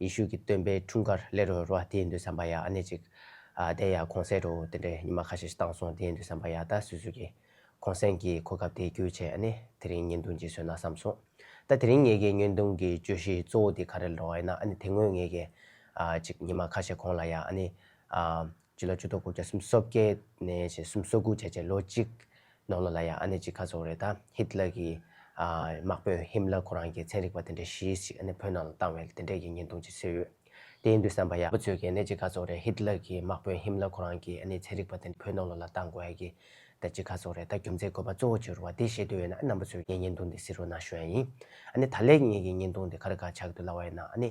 ཡེ་ཤུ་གི་སྟོན་པའི་འཁྲུངས་སྐར་ལས་རོལ་བ་དེ་འདོད་བསམ་པ་ཡ་ཨ་ནེ་ཅིག། དེ་ཡ་གོང་གསལ་རོ་དེ་འདྲའི་ཉི་མ་ཁ་ཤས་ཤིག་བཏང་སོང་དེ་འདོད་བསམ་པ་ཡ་ད་སུས་སུས་ཀྱིས། གོང་གསལ་གྱི་གོ་སྐབས་དེ་བསྐྱུར་བྱས་ཨ་ནེ་དེ་རིང་ཉེན་རྡུང་གྱིས་ཟོས་ན་བསམ་སོང། ད་དེ་རིང་ངེད་ཀྱི་ཉེན་རྡུང་གི་གྱོད་གཞི་གཙོ་བོ་དེ་ག་རེ་ལ་འགྲོ་བ་ཡིན་ན་ཨ་ནེ་དེ་སྔོན་ངེད་ཀྱིས་ཨ་ཅིག་ཉི་མ་ཁ་ཤས་གོང་ལ་ཡ་ཨ་ནེ། སྤྱི་ལོ་བཅུ་དོག་དགུ་བརྒྱ་གསུམ་སོ་བརྒྱད་ནས་ཞེ་གསུམ་སོ་དགུ་བརྒྱད་ཅེས་ལོ་གཅིག་ནང་ལོ་ལ་ཡང་ཨ་ནེ་གཅིག་ཁ་ཚོགས་རེ་དང་ཧིད་ལ་གི་དམག་དཔོན་ཧིམ་ལ་ཁོ་རང་གི་ཚན་རིག་པ་དེ་འདྲའི་གཞི་ཞིག་ཨ་ནེ་བོད་ནང་ལ་བཏང་བས་དེ་འདྲས་ཀྱི་ཉེན་དུང་ཅིག་བཟོས་ཡོད། དེ་ཡིན་དུས་བསམ་པ་ཡག་པོ་ཚོས་ཀྱིས་ཨ་ནེ་གཅིག་ཁ་ཚོགས་རེ་ཧིད་ལ་གི་དམག་དཔོན་ཧིམ་ལ་ཁོ་རང་གིས་ཨ་ནེ་ཚན་རིག་པ་དེ་འདྲ་བོད་ནང་ལོ་ལ་བཏང་དགོས་ཡ་གི་ད་གཅིག་ཁ་ཚོགས་རེ་ད་རྒྱུ་མཚན་དགོས་པ་གཙོ་བོ་ཅི་རུ་བ་དེ་ཤེས་འདོད་ཡོད་ན་ཨ་ནམ་པོ་ཚོས་ངའི་ཉེན་དུང་དེ་བསིལ་རོ་ནང་ཤོད་ཡ་ཡིན། ཨ་ནེ་ད་ལེགས་ངེད་ཀྱི་ཉེན་དུང་དེ་ག་རེ་ག་ཆགས་འདུག་ལ་བ་ཡིན་ན་ཨ་ནེ།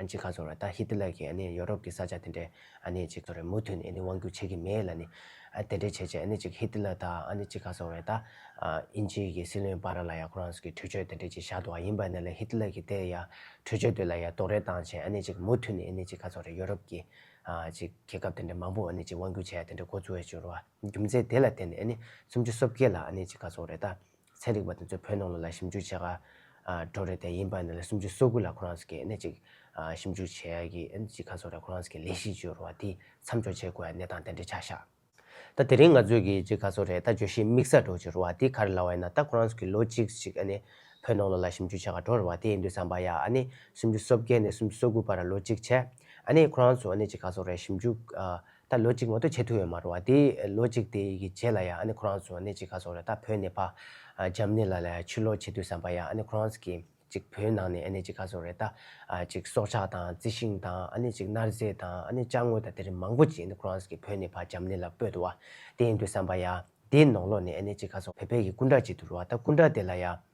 ཨ་ཅེ་ཁ་ཚོར་བ་ད་ཧི་ཏི་ལར་གྱིས་ཨ་ནི་ཡོ་རོབ་ཀྱི་ས་ཆ་དེ་འདྲའི་ཨ་ནི་ཅིག་ཚོར་བས་མུ་མཐུད་ནས་ཨ་ནི་དབང་བསྒྱུར་བྱེད་ཀྱི་མེད་ལ་ནི། ཨ་དེ་འདྲའི་བྱས་རྗེས་ཨ་ནི་ཅིག་ཧི་ཏི་ལར་ད་ཨ་ནི་ཅིག་ཁ་ཚོར་བས་ད། དབྱིན་ཇིའི་གྱི་སྲིད་བློན་བྷ་ར་ལ་ཡ་ཁོ་རང་ཚོ་གྱི་གྲོས་ཆོད་དེ་འདྲའི་ཅིག་བཞག་འདུག་ཨ་ཡིན་པ་ནས་ལ་ཧི་ཏི་ལར་གྱིས་དེ་ཡ་གྲོས་ཆོད་དེ་ལ་ཡ་རྡོག་རོལ་བཏང་བྱས་ཨ་ནི་ཅིག་མུ་མཐུད་ནས་ཨ་ནི་ཅིག་ཁ་ཚོར་བས་ཡོ་རོབ་ཀྱི། ཅིག་རྒྱལ་ཁབ་དེ་འདྲའི་མང་པོ་ཨ་ནི་ཅིག་དབང་བསྒྱུར་བྱས་ཡ་དེ་འདྲའི་འགོ་འཛུགས་བས་བྱུར་བ་རྒྱུ་མཚན་དེ་ལ་བརྟེན་ནས་ཨ་ནི་སུམ་ཅུ་སོ་བརྒྱད་ལ་ཨ་ནི་ཅིག་ཁ་ཚོར་བས་ད་ཚན་རིག་པ་དེ་ཚོས་བོད་ནང་ལ་ལ་ཞིབ་འཇུག་བྱེད་ག་འགྲོ་རེད་དེ་ཡིན་པ་ནི་ལ་སུམ་ཅུ་སོ་དགུ་ལ་ཁོ་རང་ཟེར་གི་ནས་ཅིག་ཞིབ་འཇུག་བྱེད་ཡ་གི་ཨན་ཅིག་ག་ཚོ་རེད་ཁོ་རང་ཟེར་གི་ལས་གཞི་བཅོལ་བ་དེ་མཚམས་འཇོག་བྱེད་དགོས་ཡ་གནས་སྟངས་དེ་འདྲས་ཆགས་ཤག་ད་དེ་རིང་ང་ཚོས་གི་ཅིག་ག་ཚོ་རེད་ད་བརྗོད་གཞི་དམིགས་ས་འགྲོ་བྱེད་རོ་བ་དེ་ག་རེ་ལ་བ་ཡིན་ན་ད་ཁོ་རང་ཟེར་གི་ལོ་གཅིག་ཅིག་ཨ་ནི་བོད་ནང་ལ་ལ་ཞིབ་འཇུག་བྱེད་ག་འགྲོ་རེད་བ་དེ་ཡིན་དུས་བསམ་པ་ཡ་ཨ་ནི་སུམ་ཅུ་སོ་བརྒྱད་ནས་སུམ་ཅུ་སོ་དགུ་བར་ལོ་གཅིག་བྱས་ཨ་ནི་ཁོ་རང་ཚོ་ཨ་ནི་ཅིག་ག་ཚོ་རེད་ཞིབ་འཇུག་ད་ལོ་གཅིག་མ་གཏོགས་བྱེད་ཐུབ་ཡོད་མ་རུང་བ་དེ་ལོ་གཅིག་དེ་ཡི་གི་རྗེས་ལ་ཡང་ཨ་ནི་ཁོ་རང་ཚོ་ནས་གཅིག་ག་སོང་རེད་ད་བོད་ནས་ཕ་འཇམ་ནེ་ལ་ལ་ཡང་ཕྱིར་ལོག་བྱེད་དུས་བསམ་པ་ཡང་ཨ་ནི་ཁོ་རང་ཚོ་གིས་གཅིག་བོད་ནང་ནས་ཨ་ནི་གཅིག་ག་སོང་རེད་ད་གཅིག་སྲོག་ཆགས་དང་རྩི་ཤིང་དང་ཨ་ནི་གཅིག་གནར་རྫས་དང་ཨ་ནི་བཅག་དངོས་དང་དེ་རིགས་མང་པོ་གཅིག་ཨ་ནི་ཁོ་རང་ཚོ་གིས་བོད་ནས་ཕ་འཇམ་ནེ་ལ་སྤོས་འདུག་བ་དེ་ཡིན་དུས་བསམ་པ་ཡང་དེའི་ནོག་ལོག་ནས་ཨ་ནི་གཅིག་ག་སོང་བོད་པའི་གི་སྐུ་འདྲ་གཅིག་འདུག་རུང་བ་ད་སྐུ་འདྲ་དེ་ལ་ཡང་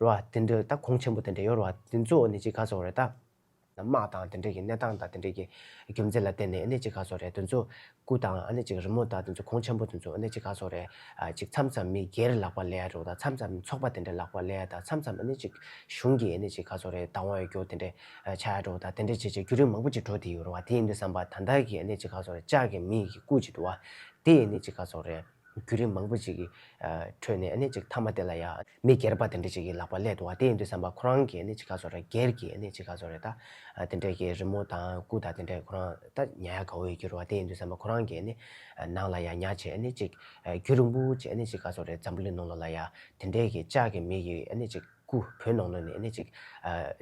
རོ། དེ་འདྲ་ད་གོང་ཆེན་པོ་དེ་འདྲ་ཡོད་རོ། དེ་ཚོ་ནི་ཅི་ག་ཚོགས་རེད་ད། དམག་དང་དེ་འདྲ་གི་གནས་སྟངས་དང་དེ་འདྲ་གི་རྒྱུ་མཚན་ལ་བརྟེན་ནས་ནི་ཅི་ག་ཚོགས་རེད་དེ་ཚོ། སྐུ་དང་ནི་ཅིག་རི་མོ་དང་དེ་ཚོ་གོང་ཆེན་པོ་དེ་ཚོ་ནི་ཅི་ག་ཚོགས་རེད། ཅིག་མཚམས་མཚམས་མི་སྒེར་ལག་པ་ལས་རོ་ད་མཚམས་མཚམས་ཚོགས་པ་དེ་འདྲ་ལག་པ་ལས་ད་མཚམས་མཚམས་ནི་ཅིག་གཞུང་གི་ནི་ཅི་ག་ཚོགས་རེད་ད་དབང་ཡོད་རྒྱུ་དེ་འདྲ་ཆགས་ཡོད་རོ་ད་དེ་འདྲ་བྱས་བྱས་རྒྱུ་རིགས་མང་པོ་ཅིག་འགྲོ་དེ་ཡོད་རོ་བ་དེ་ཡིན་དུ་བསམ་པ་ད་ལྟ་གི་ནི་ཅི་ག་ཚོགས་རེད་ལྕགས་ཀྱི་མིག་གི་སྐུ་ཅིག་འདུག་བ་དེ་ནི་ཅི་ག་ཚོགས་རེད་རྒྱུ་རིགས་མང་པོ་ཅིག་གི་ཁྲོད་ནས་ནི་ཅིག་མཐའ་མ་དེ་ལ་ཡ། མི་སྒེར་པ་དེ་འདྲ་ཅིག་གི་ལག་པ་ཀླད་དུ་བ་དེ་ཡིན་དུས་བསམ་པ་ཁོ་རང་གི་ནི་ཅི་ག་ཚོ་རེད་སྒེར་གྱི་ནི་ཅི་ག་ཚོ་རེད་ད། དེ་འདྲ་གི་རི་མོ་དང་སྐུ་དང་དེ་འདྲ་ཁོ་རང་ད་ཉལ་ཡ་ག་འོས་གྱུར་བ་དེ་ཡིན་དུས་བསམ་པ་ཁོ་རང་གི་ནི། ནང་ལ་ཡ་ཉག་བྱས་ནི་ཅིག་གུ་རུ་འབུ་བྱས་ནི་ཅི་ག་ཚོ་རེད་འཛམ་བུ་ལི་ནང་ལོ་ལ་ཡ་དེ་འདྲ་གི་ལྕགས་ཀྱི་མིག་གི་ནི་ཅིག་སྐུ་བོད་ནང་ལོ་ནི་ནི་ཅིག།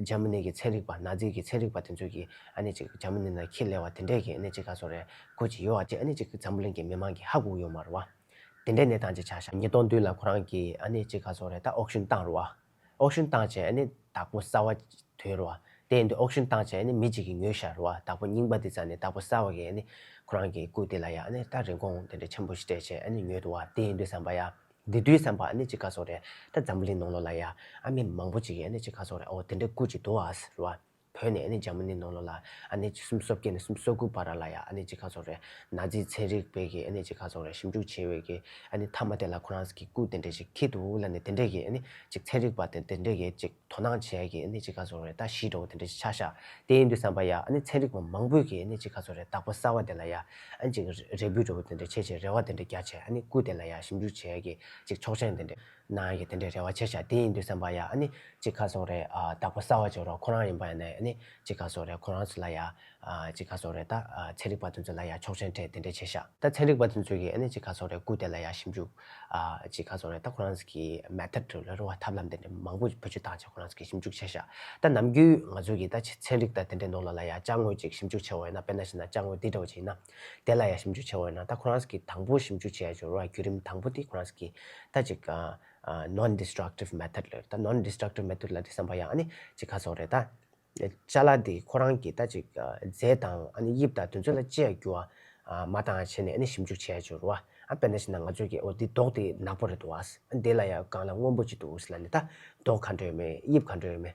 འཇར་མ་ནི་གི་ཚན་རིག་པ་ནཱ་ཛི་གི་ཚན་རིག་པ་དེ་ཚོ་གི་ནི་ཅིག་འཇར་མ་ནི་ན་ཁྱི་ལས་བ་དེ་འདྲ་གི་ནི་ཅི་ག་ཚོ་རེད་གོ་ཅི་ཡོད་བ་དེ་ནི་ཅིག་འཛམ་བུ་ལན་གྱི་མི་མང་གི་ཧ་གུ་ཡོད་མ་རུ་བ། དེ་འདྲའི་ནད་དང་ཅི་ཆ་ཤ་ཉིས་སྟོང་བདུན་ལ་ཁོ་རང་གི་ཨ་ནེ་གཅིག་ག་ཚོགས་རེད་ད་ཨོག་ཞུན་བཏང་རུ་བ། ཨོག་ཞུན་བཏང་བྱས་ཨ་ནེ་བདག་པོ་གསར་བ་དོན་རུ་བ། དེ་འདི་ཨོག་ཞུན་བཏང་བྱས་ཨ་ནེ་མི་གཅིག་གི་ངོས་ཤར་རུ་བ་བདག་པོ་རྙིང་པ་འདི་ཙམ་ནས་བདག་པོ་གསར་བ་གིས་ཨ་ནེ་ཁོ་རང་གི་སྐུ་དེ་ལ་ཡ་ཨ་ནེ་ད་རིན་གོང་དེ་འདྲའི་ཆེན་པོ་ཞིག་སྤྲད་བྱས་ཨ་ནེ་ཉོས་འདུག་བ་དེ་ཡིན་དུས་བསམ་པ་ཡ། འདི་དུས་བསམ་པ་ཨ་ནེ་གཅིག་ག་ཚོགས་རེད་ད་འཛམ་བུ་གླིང་ནང་ལོགས་ལ་ཡ་ཨ་མི་མང་པོ་གཅིག་གིས་ཨ་ནེ་གཅིག་ག་ཚོགས་རེད་ཨོ་དེ་འདྲའི་སྐུ་གཅིག་འདུག་བ། བོད་ནས་ཨ་ནི་འཇར་མ་ནི་ནོ་ལོ་ལ་ཨ་ནི་ཅི་གསུམ་སོ་བརྒྱད་ནས་གསུམ་སོ་དགུ་བར་ར་ལ་ཡ་ཨ་ནི་ཅི་ཁ་ཚོགས་རེ་ན་རྫི་ཚན་རིག་པའི་གི་ཨ་ནི་ཅི་ཁ་ཚོགས་རེ་ཞིབ་འཇུག་བྱེད་བའི་གི་ཨ་ནི་ཐ་མ་དེ་ལ་ཁོ་རང་ས་གི་སྐུ་དེ་འདྲས་ཅིག་ཁིད་དུ་ལ་ནི་དེ་འདྲས་གི་ཨ་ནི་ཅིག་ཚན་རིག་པ་དེ་འདྲས་གི་ཅིག་དོ་སྣང་བྱེད་ཡ་གི་ཨ་ནི་ཅི་ཁ་ཚོགས་རེ་ད་ཤི་འགྲོ་བ་དེ་འདྲས་ཅིག་ཆགས་ཤག་དེ་ཡིན་དུས་བསམ་པ་ཡ་ཨ་ནི་ཚན་རིག་པ་མང་པོས་གི་ཨ་ནི་ཅི་ཁ་ཚོགས་རེ་དག་པ་གསར་བ་དེ་ལ་ཡ་ཨ་ནི་ཅིག་རེ་འབུད་འགྲོ་བ་དེ་འདྲས་བྱེད་ཅིག་རེ་བ་དེ་འདྲས་རྒྱ་ཆེ་ཨ་ནི་སྐུ་དེ་ལ་ཡ་ཞིབ་འཇུག་བྱེད་ཡ་གི་ཅིག་ཆོག་མཆན་དེ་འདྲས། ནའང་ཡོད་དེ་འདྲའི་རེ་བ་ཆེ་ཤག་དེ་ཡིན་དུས་སེམས་པ་ཡ་ཨ་ནི་ཅི་ག་སོང་རེད་ཨ་བདག་པོ་གསར་བ་ཅིག་རོགས་ཁོ་རང་ཡིན་པ་ཡ་ནའི་ཨ་ནི་ཅི་ག་སོང་རེད་ཁོ་རང་ཚོ་ལ་ཡ་ཨ་ཅི་ག་སོང་རེད་ད་ཨ་ཚན་རིག་པ་དེ་ཚོ་ལ་ཡ་ཆོག་མཆན་འཕྲད་དེ་འདྲའི་ཆེ་ཤག་ད་ཚན་རིག་པ་དེ་ཚོ་གིས་ཨ་ནི་ཅི་ག་སོང་རེད་སྐུ་དེ་ལ་ཡ་ཞིབ་འཇུག་ཨ་ཅི་ག་སོང་རེད་ད་ཁོ་རང་ཚོ་གིས Method དྲུག་ལ་རུང་བ་ཐབས་ལམ་དེ་འདྲའི་མང་པོ་བུ་ཆུ་བཏང་རྗེས་ཁོ་རང་ཚོ་གིས་ཞིབ་འཇུག་བྱས་ཤག་ད་ནམ་རྒྱུན་ང་ཚོ་གིས་ད་ཚན་རིག་དང་དེ་འདྲའི་ནོར་ལ་ལ་ཡ་དཔྱ་དངོས་ཅིག་ཞིབ་འཇུག་བྱས་བ་ཡིན་ན་དཔེར་ན་བྱས་ན་དཔྱ་དངོས་འདི་འདྲ་བོ་ཅིག་ཡིན་ན། དེ་ལ་ཡང་ཞིབ་འཇུག་བྱེད་འོས་ན་ད་ཁོ་རང་གིས་དང་པོ་ཞིབ་འཇུག་བྱས་འབྱོར་བ་བརྒྱུད་རིམ་དང་པོ་དེ་ཁོ་རང་གིས་ད་ཅིག Non Destructive Method ལོས་ད Non Destructive Method ལ་དེ་བསམ་པ་ཡང་ཨ་ནི་ཅིག་ཁ་སོགས་རེད་ད། བཅའ་ལ་དེ་ཁོ་རང་གིས་ད་ཅིག་རྫས་དང་ཨ་ནི་དབྱིབས་དང་དུས་ཚོད་ལ་ཅི་ཡང་རྒྱུ་བ་མ་ད་བྱས་ནས་ཨ་ནི་ཞིབ་འཇུག་བྱས་འབྱོར་བ་ཨ་པེ་ན་བྱས་ན་ང་ཚོས་ཀྱིས་འོ་དེ་མདོག་དེ་ནག་པོ་རེད་འདུག་བ་ཨ་ནི་དེ་ལ་ཡང་གང་ལ་སྔོན་པོ་ཅིག་འདུག་ཟེར་ལ་ནི་ད་མདོག་ག་འདྲ་ཡོད་མེད་དབྱིབས་ག་འདྲ་ཡོད་མེད།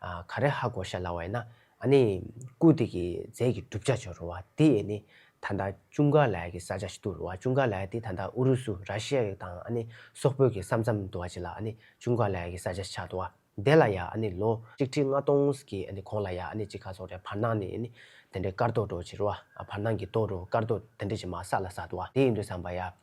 ག་རེ་ཧ་གོ་ཤ་ལ་བས་ན་ཨ་ནི་ཀུ་དེ་གི་རྫས་ཀྱི་གྲུབ་ཆ་ཅུང་རུང་བ་དེ་ཨེ་ནི་ད་ལྟ་ཅུང་ག་ལ་ཡ་གི་ས་ཆ་ཞིག་ཏུ་རུང་བ་ཅུང་ག་ལ་ཡ་དེ་ད་ལྟ་ཨུ་རུ་སུ་ར་ཤི་ཡ་ཡིག་དང་ཨ་ནི་སོག་པོད་ཀྱི་ས་མཚམས་དུ་བ་ཅི་ལ་ཨ་ནི་ཅུང་ག་ལ་ཡ་གི་ས་ཆ་ཞིག་ཆགས་འདུག་བ་དེ་ལ་ཡ་ཨ་ནི་ལོ་གཅིག་ཁྲི་ལྔ་སྟོང་གི་ཨ་ནི་གོང་ལ་ཡ་ཨ་ནི་གཅིག་ག་སོག་རའི་བར་སྣང་ནི་ཨེ་ནི་དེ་འདྲའི་དཀར་རྡོ་རུ་བྱེད་རུང་བ་བར་སྣང་གི་རྡོ་རུ་དཀར་རྡོ་དེ་འདྲ་ཞིག་མ་བསགས་ལ་བསགས་འདུག་བ་དེ་ཡིན་དུ་བསམ་པ་ཡ།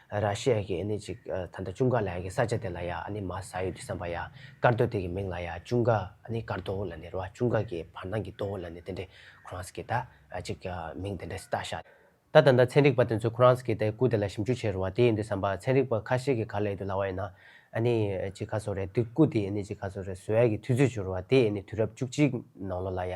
ར་ཤི་ཡ་གི་ནི་ཅིག་ད་ལྟ་ཅུང་ག་ལ་ཡ་གི་ས་ཆ་དེ་ལ་ཡ་ནི་མ་ས་ཡོད་དུ་བསམ་པ་ཡ་ཀར་དོ་དེ་གི་མིང་ལ་ཡ་ཅུང་ག་ནི་ཀར་དོ་ལ་ནི་ར་བ་ཅུང་ག་གི་བར་སྣང་གི་དོ་ལ་ནི་དེ་འདྲའི་ཁོ་རང་ས་གི་ད་ཅིག་མིང་དེ་འདྲ་སི་ད་ཤ། ད་ད་ད་ཚན་རིག་པ་དེ་ཚོས་ཁོ་རང་ས་གི་ད་ཀུ་དེ་ལ་ཞིབ་འཇུག་བྱེད་རུང་བ་དེ་ཡིན་དུ་བསམ་པ་ཚན་རིག་པ་ཁ་ཤས་གི་ག་ལ་ཡོད་དུ་ལ་བ་ཡིན་ན་ནི་ཅིག་ག་སོ་རེད་དུས་ཀུ་དེ་ནི་ཅིག་ག་སོ་རེད་ཟོ་ཡ་གི་དུས་ཚོད་བྱུང་རུང་བ་དེ་ནི་དུས་རབས་བཅུ་གཅིག་ནང་ལོ་ལ་ཡ་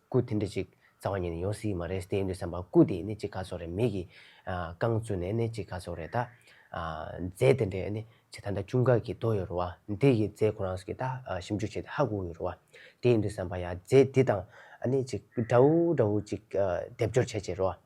སྐུ་དེ་འདྲ་ཅིག་རྩ་བ་ཉིད་ནས་ཡོང་སྲིད་ཀྱི་མ་རེད་ཏེ་འདོད་བསམ་པ་སྐུ་དེ་ནི་ཅི་ག་ཚོགས་རེད་མིག་གིས་རྐང་བཙུགས་ནས་ནི་ཅི་ག་ཚོགས་རེད་ད། རྫས་དེ་འདྲས་ནི་ཇི་ད་ད་ཅུང་ག་གི་དོ་ཡོད་རོ་བ་འདི་ཡི་རྫས་ཁོ་རང་གིས་ད་ཞིབ་འཇུག་བྱས་ཏེ་ཧ་གོ་གི་རོ་བ་དེའི་འདོད་བསམ་པ་ཡ་རྫས་འདི་དང་ནི་ཅི་འདྲ་བོ་འདྲ་བོ་ཅིག་སྡེབ་སྦྱོར་བྱས་བྱས་རོ་བ།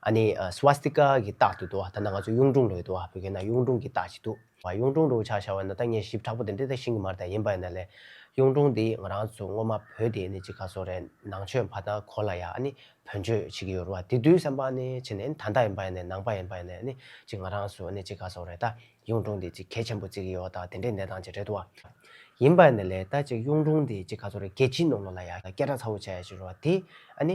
ཨ་ནི Swastika གི་རྟགས་འདི་འདུག་ད་ནང་ང་ཚོ་གཡུང་དྲུང་རོལ་འདུག་བོད་སྐད་ན་གཡུང་དྲུང་གི་རྟགས་ཅིག་འདུག་གཡུང་དྲུང་རོལ་ཆགས་ཤར་བ་ན་ད་ངས་ཞིབ་དྲག་པོ་དེ་འདྲི་ད་ཤིང་གི་མར་ད་ཡིན་པ་ཡིན་ན་ལས། གཡུང་དྲུང་འདི་ང་རང་ཚོ་སྔོན་མ་བོད་དེ་ནི་ཅི་ག་སོག་རེད་ནང་ཆོས་ཕ་དང་གོ་ལ་ཡ་ཨ་ནི་བོན་ཆོས་བྱེད་ཀྱི་ཡོད་རུ་བ་དེ་དུས་སེམས་པ་ཨ་ནི་བྱེད་ནས་ད་ད་ཡིན་པ་ཡིན་ནས་ནང་པ་ཡིན་པ་ཡིན་ནས་ཨ་ནི་ཅི་ང་རང་ཚོ་ཨ་ནི་ཅི་ག་སོག་རེད་ད་གཡུང་དྲུང་འདི་ཅི་གལ་ཆེན་པོ་བརྩི་གི་ཡོད་ད་དེ་འདྲའི་གནས་སྟངས་ཅིག་རེད་འདུག་བ། ཡིན་པ་ཡིན་ན་ལས་ད་ཅིག་གཡུང་དྲུང་འདི་ཅི་ག་སོག་རེད་རྒྱལ་སྤྱིའི་ནང་ལོག་ལ་ཡ་སྐད་གྲགས་ཚ་བོ་བྱས་ཡ་ཅིག་རུ་བ་དེ་ཨ་ནི་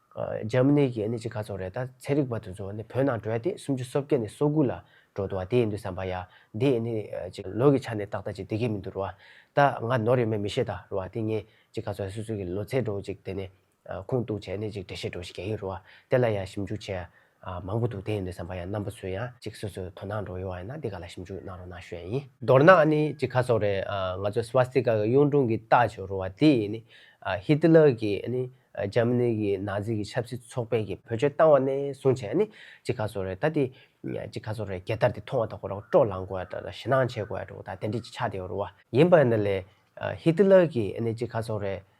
འཇར་མ་ནི་གྱི་ནི་གཅིག་ག་ཚོགས་རེད་ད་ཚེ་རིག་པ་དེ་ཚོ་ནི་བོད་ནང་བྲོས་ཏེ་སུམ་ཅུ་སོ་བརྒྱད་ནས་སོ་དགུ་ལ་འགྲོ་འདུག་བ་དེ་ཡིན་འདུག་བསམ་པ་ཡ་འདི་ནི་གཅིག་ལོ་གི་ཆ་ནས་ཏག་ཏག་ཅིག་བསྡད་ཀྱི་མི་འདུག་རུ་བ་ད་ང་ནོར་ཡོད་མེད་མི་ཤེས་ད་རུ་བ་དེ་ངས་གཅིག་ག་ཚོགས་སུད་སུད་གྱི་ལོ་ཚད་འགྲོ་གཅིག་དེ་ནི་ཁུངས་གཏུགས་བྱས་ནས་གཅིག་འགྲེལ་བཤད་འགྲོ་ཞིག་ག་གི་རུ་བ་དེ་ལ་ཡ་ཞིབ་འཇུག་བྱས་མང་པོ་འདུག་དེ་ཡིན་དུས་བསམ་པ་ཡང་རྣམ་པ་ཚོས་ཡང་གཅིག་སོ་སོས་དོ་སྣང་འགྲོ་ཡོང་བ་ཡིན་ན་འདི་ག་ལ་ཞིབ་འཇུག་གནང་རོགས་གནང་ཞུ་ཡ་ཡིན། མདོར་ན་ནི་གཅིག་ཁ་སོགས་རེད་ང་ཚོས Swastika གི་གཡུང་དྲུང་གི་རྟགས་བཅོས་རུང་བ་དེ་ཡིས་ནི Hitler གི་ནི Germany གི Nazi གི་ཆབ་སྲིད་ཚོགས་པས་གི་བོད་ཆོལ་བཏང་བ་ནས་བཟུང་བྱས་ནི་གཅིག་ཁ་སོགས་རེད་ད་དེ་གཅིག་ཁ་སོགས་རེད་རྒྱལ་དར་དེ་མཐོང་བ་དང་ཁོ་རང་སྤྲོ་ལངས་དགོས་ཡ་ཞེ་སྣང་བྱེད་དགོས་ཡ་འགྲོ་དང་དེ་འདྲིས་ཆགས་བསྡད་རུང་བ་ཡིན་པ་ནི་ལས Hitler གི་ནི་གཅིག་ཁ་སོགས་རེད་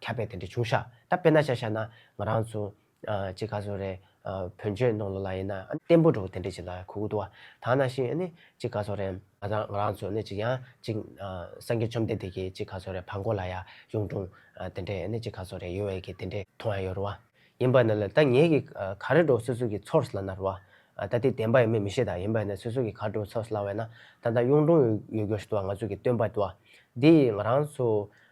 ཁྱབ་པས་དེ་འདྲ་བྱུང་ཤག་ད་དཔེར་ན་ཤ་ཤ་ན་ང་རང་ཚོ་ཅེ་ཁ་ཚོ་རེད་བོན་ཆོས་ནང་ལོ་ལ་ཡིན་ན་བརྟན་པོ་འགྲོ་དེ་འདྲ་ཅིག་ལ་ཁུག་ཏུ་བ་ད་ན་ཤིང་ནི་ཅེ་ཁ་ཚོ་རེད་ང་ཚ་ང་རང་ཚོ་ནི་ཅིག་ཡང་ཅིག་སངས་རྒྱས་བཅོམ་ལྡན་འདས་ཀྱི་ཅེ་ཁ་ཚོ་རེད་བར་འགོ་ལ་ཡ་གཡུང་དྲུང་དེ་འདྲ་ནི་ཅེ་ཁ་ཚོ་རེད་ཡོད་བས་ཀྱི་དེ་འདྲ་མཐོང་ཡ་ཡོད་རོ་བ་ཡིན་པ་ན་ལ་ད་ངེད་ཀྱི་ག་རེ་འགྲོ་སོ་སོ་ཀྱི་ཚོར་ལ་ན་རོ་བ་ད་དེ་བདེན་པ་ཡིན་མིན་མི་ཤེས་ད་ཡིན་པ་ན་སོ་སོ་ཀྱི་ག་འགྲོ་ཚོར་ལ་བས་ན་ད་ད་གཡུང་དྲུང་ཡོད་གྱུར་ཤི་ཏུ་བ་ང་ཚོ་ཀྱི་སྟོན་པ་ཏུ་བ་འདི་ཡིས་ང་རང་ཚོ་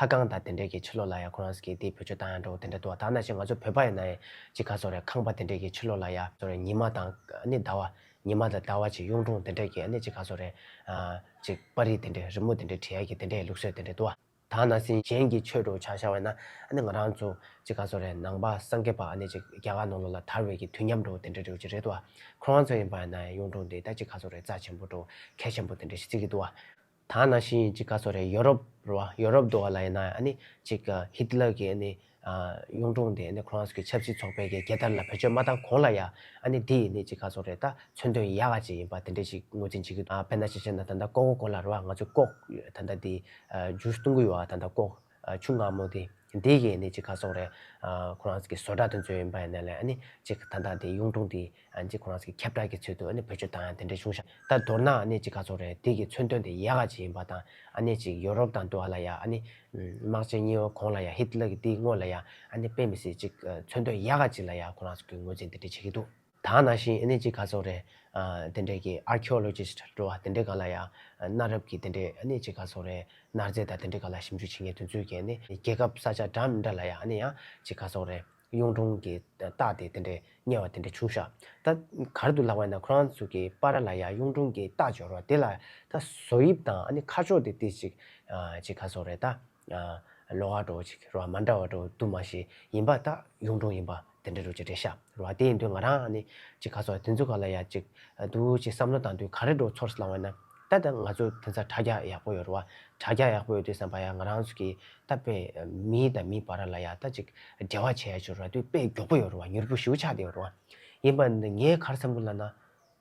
ལྷ་ཁང་དང་དེ་འབྲེལ་གྱི་ཕྱི་ལོགས་ལ་ཡང་ཁོ་རང་ཟིག་གིས་དེའི་བུ་ཆོས་དང་ཡང་འདྲ་བོ་དེ་འདྲ་འདུག་བ་ད་ན་ཆེས་ང་ཚོ་བོད་པ་ཡིན་ན་ཡང་ཅི་ག་ཚོར་རེད་ཁང་པ་དེ་འབྲེལ་གྱི་ཕྱི་ལོགས་ལ་ཡ་ཚོར་རེད་ཉི་མ་དང་ནི་ཟླ་བ་ཉི་མ་དང་ཟླ་བ་ཆེ་གཡུང་དྲུང་དེ་འདྲེལ་གྱི་ནི་ཅི་ག་ཚོར་རེད་ཅིག་དཔའ་རིས་དེ་འདྲེ་རི་མོ་དེ་འདྲེ་བྲིས་ཡ་གྱི་དེ་འདྲེ་ལུགས་སྲོལ་དེ་འདྲེ་འདུག་བ་ད་ན་སེམས་ཅན་གྱི་ཆོས་གྲོགས་ཆགས་ཤར་བས་ན་ནི་ང་རང་ཚོ་ཅི་ག་ཚོར་རེད་ནང་པ་སངས་རྒྱས་པ་ནི་ཅིག་རྒྱ་གར་ནང་ལོགས་ལ་དར་བས་གྱི་དུས་མཉམ་འགྲོ་བོ་དེ་འདྲེ་རེད་ཅིག་རེད་འདུག་བ་ཁོ་རང་ཚོ་ཡིན་པ་ཡིན་ན་ཡང་གཡུང་དྲུང་དེ་ད་ཅི་ག་ཚོར་རེད་རྩ་ཆེན་པོ་གྲོགས་མཁས་ཆེན་པོ་དེ་འདྲེ་ཞིག་ཅིག་གི་འདུག་བ་ད་ནང་བཞིན་གཅིག་ག་ཚོད་རེད་ཡོ་རོབ་རུ་བ་ཡོ་རོབ་དུ་བ་ལ་ཡིན་ན་ཨ་ནི་གཅིག་ཧིད་ལར་གྱི་ཨ་ནི་གཡུང་དྲུང་དེ་ཨ་ནི་ཁོ་རང་ཚོ་གི་ཆབ་སྲིད་ཚོགས་པའི་གི་རྒྱལ་དར་ལ་བེད་སྤྱོད་མ་བཏང་གོང་ལ་ཡ་ཨ་ནི་འདི་ཡི་ནི་གཅིག་ག་ཚོད་རེད་ད་མཚོན་དོན་ཡ་ག་ཅིག་ཡིན་པ་དེ་འདྲས་ཅིག་ངོས་འཛིན་བྱེད་གི་འདུག་ཨ་དཔེར་ན་ཅིག་བྱས་ན་ད་ལྟ་ཀོ་ཀོ་ཀོ་ལ་རུ་བ་ང་ཚོས་ཀོག་ཡོད་ད་ལྟ་འདི་ཇུས་གཏོང་གི་ཡོ་ཨ་ད་ལྟ་ཀོག་ཆུང་ངམ་མོ་དེ་འདི་ཡིན་ནི་ཅིག་ག་སོགས་རེད། ཁོ་རང་གི་བཟོ་གྲྭ་དེ་ཚོའི་ཡིན་པ་ཡིན་ན་ལས་ནི་ཅིག་ད་ལྟ་དེ་གཡུང་དྲུང་དེ་ཅིག་ཁོ་རང་གི་ཁྱབ་བསྒྲགས་ཀྱི་ཚུལ་དུ་ནི་བོད་ཆོས་དང་དེ་འདྲའི་གཞུང་ཞབས་ད་མདོར་ན་ནི་ཅིག་ག་སོགས་རེད་དེ་གི་མཚོན་དོན་དེ་ཡག་ག་ཅིག་ཡིན་པ་དང་ནི་ཅིག་ཡོ་རོབ་དང་འདུག་ལ་ཡ་ནི་དམག་ཆེན་གཉིས་བོ་གོང་ལ་ཡ་ཧིད་ལི་གི་དེ་དངོས་ལ་ཡ་ནི་དཔེ་མི་སྲིད་ཅིག་མཚོན་དོན་ཡག་ག་ཅིག་ལ་ཡ་ཁོ་རང་གི་ངོས་འཛིན་དེ་འདྲས་བྱེད་ཀྱི་འདུག། ད་ནང་བཞིན་ཨེ་ནེ་ཅི་ཁ་སོགས་རེད། དེ་འདྲས་ཀྱི Archaeologist འགྲོ་བ་དེ་འདྲས་གང་ལ་ཡང། གནའ་རབས་ཀྱི་དེ་འདྲས་ཨེ་ནེ་ཅི་ཁ་སོགས་རེད། གནར་རྫས་དང་དེ་འདྲས་གང་ལ་ཞིབ་འཇུག་བྱེད་མཁན་དུས་ཚོད་ཀྱི་ཨེ་ནེ། རྒྱལ་ཁབ་ས་ཆ་འདྲ་མི་འདྲ་ལ་ཡང་ཨེ་ནེ་ཡང་ཅི་ཁ་སོགས་རེད། གཡུང་དྲུང་གི་རྟགས་དེ་དེ་འདྲས་རྙེད་བ་དེ་འདྲས་བྱུང་ཤག་ད། གར་དུ་ལག་བས་ན་ཁོ་རང་ཚོ་གི་པ་ར་ལ་ཡང་གཡུང་དྲུང་གི་རྟགས་འབྱོར་བ་དེ་ལ་ད། བཟོ་དབྱིབས་དང་ཨེ་ནེ་ཁ་ཕྱོགས་དེ་ཏི་ཅི། ཅི་ཁ་སོགས་རེད་ད། ལོ་ཨ་གྲོ་ཅིག་རོ་མ་འདྲ་བ་གྲོ་དུ་མ་ཞིག་ཡིན་པ་དག་གཡུང་དྲུང་ཡིན་པ་དེ་འདྲ་རུ་ཅིག་རེད་ཤ་རུ་བ་དེའི་དུས་ང་རང་ནི་ཅིག་ག་ཚོགས་དེ་ཚོ་ག་ལ་ཡག་ཅིག་འདུག་ཅིག་བསམ་བློ་བཏང་དུས་ག་རེ་འགྲོ་ཚོར་ལང་བས་ན་ད་ལྟ་ང་ཚོ་དེ་ཚ་དྲ་རྒྱ་ཡག་པོ་ཡོད་རུ་བ་དྲ་རྒྱ་ཡག་པོ་ཡོད་དུས་བསམ་པ་ཡ་ང་རང་ཚོ་གི་ད་པེ་མི་དང་མི་བར་ལ་ཡག་ད་ཅིག་འབྲེལ་བ་བྱས་ཡ་ཆུ་ར་དུས་དཔེ་མགྱོགས་པོ་ཡོད་རུ་བ་མྱུར་པོ་ཞུ་ཆགས་དེ་ཡོད་རུ་བ་ཡིན་པ་ནི་ངའི་གར་བསམ་བློ་ལ་ན།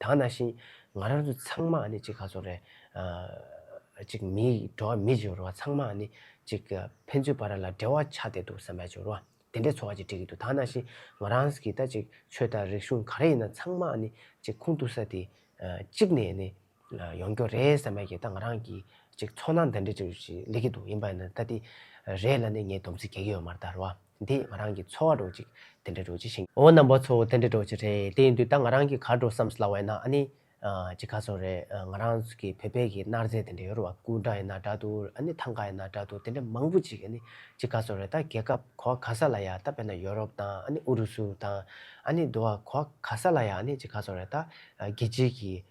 དག་ན་ཤིང་ང་རང་ཚོ་ཚང་མ་ནི་ཅིག་ག་ཚོད་རེད། ཅིག་མི་འགྲོ་བ་མི་བྱོ་རུ་བ་ཚང་མ་ནི་ཅིག་ཕན་ཚུན་བར་ལ་འབྲེལ་བ་ཆགས་བསྡད་འདུག་བསམ་པའི་བྱོ་རུ་བ་དེ་འདྲའི་ཚོ་བ་ཅིག་བྲིས་ཀྱི་འདུག་དག་ན་ཤིང་ང་རང་གིས་ད་ཅིག་ཆོས་དང་རིག་གཞུང་ག་རེ་ཡིན་ན་ཚང་མ་ནི་ཅིག་ཁུངས་གཏུགས་ས་དེ་གཅིག་ནས་ནི་ཡོང་རྒྱོ་རེད་བསམ་པའི་ཀྱི་ད་ང་རང་གིས་ཅིག་ཚོགས་ནང་འདི་འདྲ་ཅིག་ལེགས་ཀྱི་འདུག་ཡིན་པ་ནི་ད་དེ་རེད་ལ་ནི་ངས་སྡོམ་ཚིག་གེ་གེ་ཡོད་མ་རེད་ད་རུ་བ། འདིས་ང་རང་གི་འཚོ་བ་འགྲོ་ཅིག་དེ་འདྲ་འགྲོ་ཅི་ཞིང། འོ་ན་འབའ་ཚོ་དེ་འདྲ་འགྲོ་ཅི་རེད་དེ་ཡིན་དུས་ད་ང་རང་གིས་གར་འགྲོ་བསམ་སླ་བས་ན་ཨ་ནི། ཅི་ག་ཚོ་རེད་ང་རང་གི་བོད་པའི་གི་མནར་རྫས་དེ་འདྲ་ཡོད་རུང་བ་སྐུ་འདྲ་ཡིན་ན་འདྲ་འདུག་ཨ་ནི་ཐང་ག་ཡིན་ན་འདྲ་འདུག་དེ་འདྲ་མང་པོ་ཅིག་ཨ་ནི་ཅི་ག་ཚོ་རེད་ད་རྒྱལ་ཁབ་གོ་བ་ག་ས་ལ་ཡ་ད་དཔེར་ན་ཡོ་རོབ་དང་ཨ་ནི་ཨུ་རུ་སུ་དང་ཨ་ནི་འདུ་བ་གོ་བ་ག་ས་ལ་ཡ་ཨ་ནི་ཅི་ག་ཚོ་རེད་ད་རྒྱལ་སྤྱིའི་གི་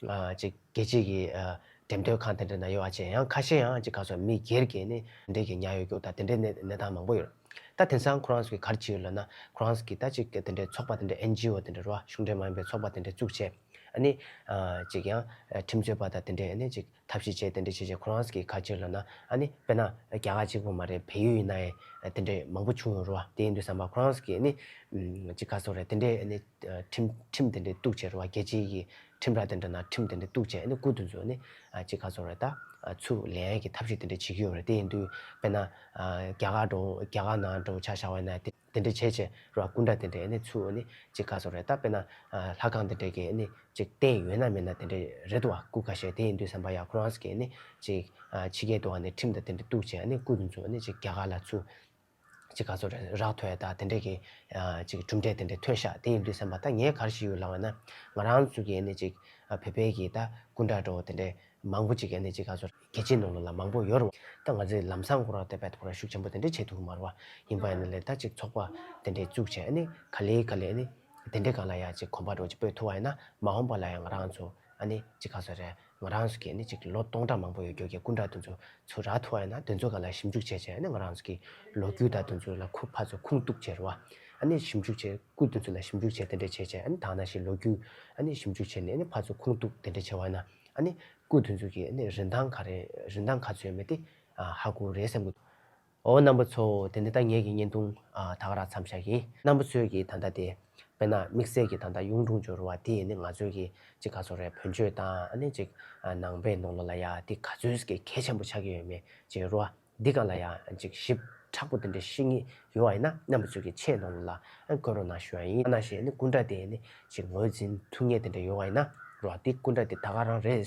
ཅིག་རྒྱལ་སྤྱིའི་གི་འགྲེམས་སྟོན་ཁང་དེ་འདྲ་ན་ཡོད་ཨ་ཅེ་ཡང་ཁ་ཤས་ཡང་ཅིག་ག་སོ་མི་སྒེར་གི་ནི་དེ་འདྲའི་གི་ཉག་ཡོད་རྒྱུག་ད་དེ་འདྲའི་ནི་གནས་སྟངས་མང་པོ་ཡོད་རེད་ད་དེང་སང་ཁོ་རང་ཚོ་གི་གར་ཅི་ཡོད་ལབ་ན་ཁོ་རང་ཚོ་གི་ད་ཅིག་དེ་འདྲའི་ཚོགས་པ་དེ་འདྲ་ཨེན་ཇི་ཨོ་དེ་འདྲ་རོ་གཞུང་འབྲེལ་མ་ཡིན་པའི་ཚོགས་པ་དེ་འདྲ་བཙུགས་བྱས་ཨ་ནི་ཅིག་ཡང་ཁྲིམས་རྩོད་པ་ད་དེ་འདྲའི་ཨ་ནི་ཅིག་ཐབས་ཤེས་བྱས་དེ་འདྲ་བྱས་བྱས་ཁོ་རང་ཚོ་གི་གར་ཅིག་ལབ་ན་ཨ་ནི་དཔེར་ན་རྒྱ་གར་ཅིག་པོ་མ་རེད་བལ་ཡུལ་ཡིན་ན་ཡང་དེ་འདྲའི་མང་པོ་བྱུང་ཡོད་རོ་དེ་ཡིན་དུས་སམ་པ་ཁོ་རང་ཚོ་གི་ནི་ཅིག་ག་སོ་རེད་དེ་འདྲའི་ཨ་ནི། ཁྲིམས་དེ་འདྲའི་གཏུགས་བྱེད་རུང་བ་རྒྱལ་སྤྱི་ཡི་ཁྲིམས་ར་དེ་འདྲ་ན་ཁྲིམས་དེ་འདྲའི་གཏུགས་བྱེད་ནི་སྐུ་དུ་འཛུགས་ནི་ཅི་ག་ཚོར་རེད་ད། ཚུར་ལེན་ཡན་གྱི་ཐབས་ཤེས་དེ་འདྲ་བྱེད་ཀྱི་ཡོད་རེད་དེ་ཡིན་དུས་དཔེར་ན། རྒྱ་གར་འགྲོ་རྒྱ་གར་ནང་འགྲོ་ཆ་བཞག་བས་ན་དེ་འདྲའི་བྱེད་བྱེད་རུང་བ་སྐུ་འདྲ་དེ་འདྲས་ནི་ཚུར་ནི་ཅི་ག་ཚོར་རེད་ད་དཔེར་ན། ལྷ་ཁང་དེ་འདྲས་ཀྱིས་ནི་ཅིག་བསྟན་ཡོད་ན་མེད་ན་དེ་འདྲས་རེད་དུ་བ་སྐུ་ཁ་ཤས་དེ་ཡིན་དུས་སམ་བ་ཡ་ཁོ་རང་གིས་ནི་ཅིག་ཕྱི་རྒྱལ་དུ་བ་ནི་ཁྲིམས་དེ་འདྲ་གཏུགས་བྱེད་ནི་སྐུ་དུ་འཛུགས་ནི་ཅིག་རྒྱ་གར་ལ་ཚུར་ཅིག་ག་ཚོད་རག་ཐོས་དང་དེ་འདྲས་ཀྱི། ཅིག་གྲུབ་འབྲས་དེ་འདྲས་ཐོས་ཤག་དེ་ཡིན་དུས་སེམས་པ་ད་ངས་གར་ཞིག་ཡོད་ལང་བས་ན། ང་རང་ཚོ་གི་ནི་ཅིག་བོད་པའི་གི་ད་སྐུ་འདྲ་འགྲོ་དེ་འདྲས་མང་པོ་ཅིག་ནི་ཅིག་ག་ཚོད་རྒྱལ་སྤྱིའི་ནང་ལ་ལ་མང་པོ་ཡོད་རུང་ད་ང་ཚོའི་ལམ་སང་གོ་ར་ཏེ་བས་ཐོག་ར་ཤུགས་ཆེན་པོ་དེ་འདྲས་བྱེད་ཐུབ་མར་བ་ཡིན་པས་ན་ལས་ད་ཅིག་ཚོགས་པ་དེ་འདྲས་བཙུགས་བྱས་ནི་ག་ལེ་ག་ལེ་ནི་དེ་འདྲས་གང་ལ་ཡང་ཅིག་གོམ་པ་འགྲོ་ཅིག་པོས་ཐུ་བ་ཡིན་ན་མ་འོངས་པ་ལ་ཡང་ང་རང་ཚོ་ཨ་ནི་ཅིག་ག་ཚོད་རེད། ང་རང་ཚོ་གིས་ནི་གཅིག་ལོ་སྟོང་ཕྲག་མང་པོ་ཡོད་རྒྱུ་གྱི་སྐུ་འདྲ་དེ་ཚོ་ཚུར་རག་ཐུབ་བ་ཡིན་ན་དེ་ཚོ་ག་ལ་ཞིབ་འཇུག་བྱས་བྱས་ནི་ང་རང་ཚོ་གི་ལོ་རྒྱུས་དག་དེ་ཚོ་ལ་ཁུ་ཕག་ཚོ་ཁུངས་གཏུགས་བྱེད་རུང་བ་ནི་ཞིབ་འཇུག་བྱེད་སྐུ་དེ་ཚོ་ལ་ཞིབ་འཇུག་བྱས་དེ་འདྲས་བྱས་བྱས་ནི་དག་ན་ཞིག་ལོ་རྒྱུས་ནི་ཞིབ་འཇུག་བྱས་ནས་ནི་ཕག་ཚོ་ཁུངས་གཏུགས་དེ་འདྲས་བྱས་བ་ཡིན་ན་ནི་སྐུ་དེ་ཚོ་གི་ནི་རིན་ཐང་ག་རེ་རིན་ཐང་ག་ཚོད་ཡོད་མེད་དེ་ཧ་གོ་རེད་བསམ་གྱི་འདུག། འོ་རྣམ་པ་ཚོ་དེ་འདི་ལྟ་ངེས་ཀྱི་བརྙན་ཐུང་དག་རག་མཚམས་བཞག་གི། རྣམ་པ་ཚོས་ཀྱི་ད་ལྟ་དེ། དཔེར་ན་དམིགས་བསལ་གྱི་ད་ལྟ་གཡུང་དྲུང་ཇོ་རུ་བ་དེ་ནི་ང་ཚོའི་གི་ཅིག་ག་ཚོད་རེད་བོན་ཆོས་དང་ཨ་ནི་ཅིག་ནང་པའི་ནང་ལོ་ལ་ཡ་དེ་ག་ཚོད་ཀྱི་གལ་ཆེན་པོ་ཆགས་ཀྱི་ཡོད་མེད་ཅིག་རུ་བ་འདི་ག་ལ་ཡ་ཅིག་ཞིབ་ཕྲག་པོ་དེ་འདྲ་ཤེས་ངེས་ཡོད་བ་ཡིན་ན་རྣམ་པ་ཚོས་གི་ཆེས་ནང་ལོ་ལ་བཀོད་རོགས་གནང་ཞུ་ཡ་ཡིན་ཨ་ན་ཞེས་ནི་སྐུ་འདྲ་དེ་ནི་ཅིག་ངོས་འཛིན་ཐུགས་ངེས་དེ་འདྲ་ཡོད་བ་ཡིན་ན་རུ་བ་དེ་སྐུ་འདྲ་དེ་ད་ག་རང་རེད།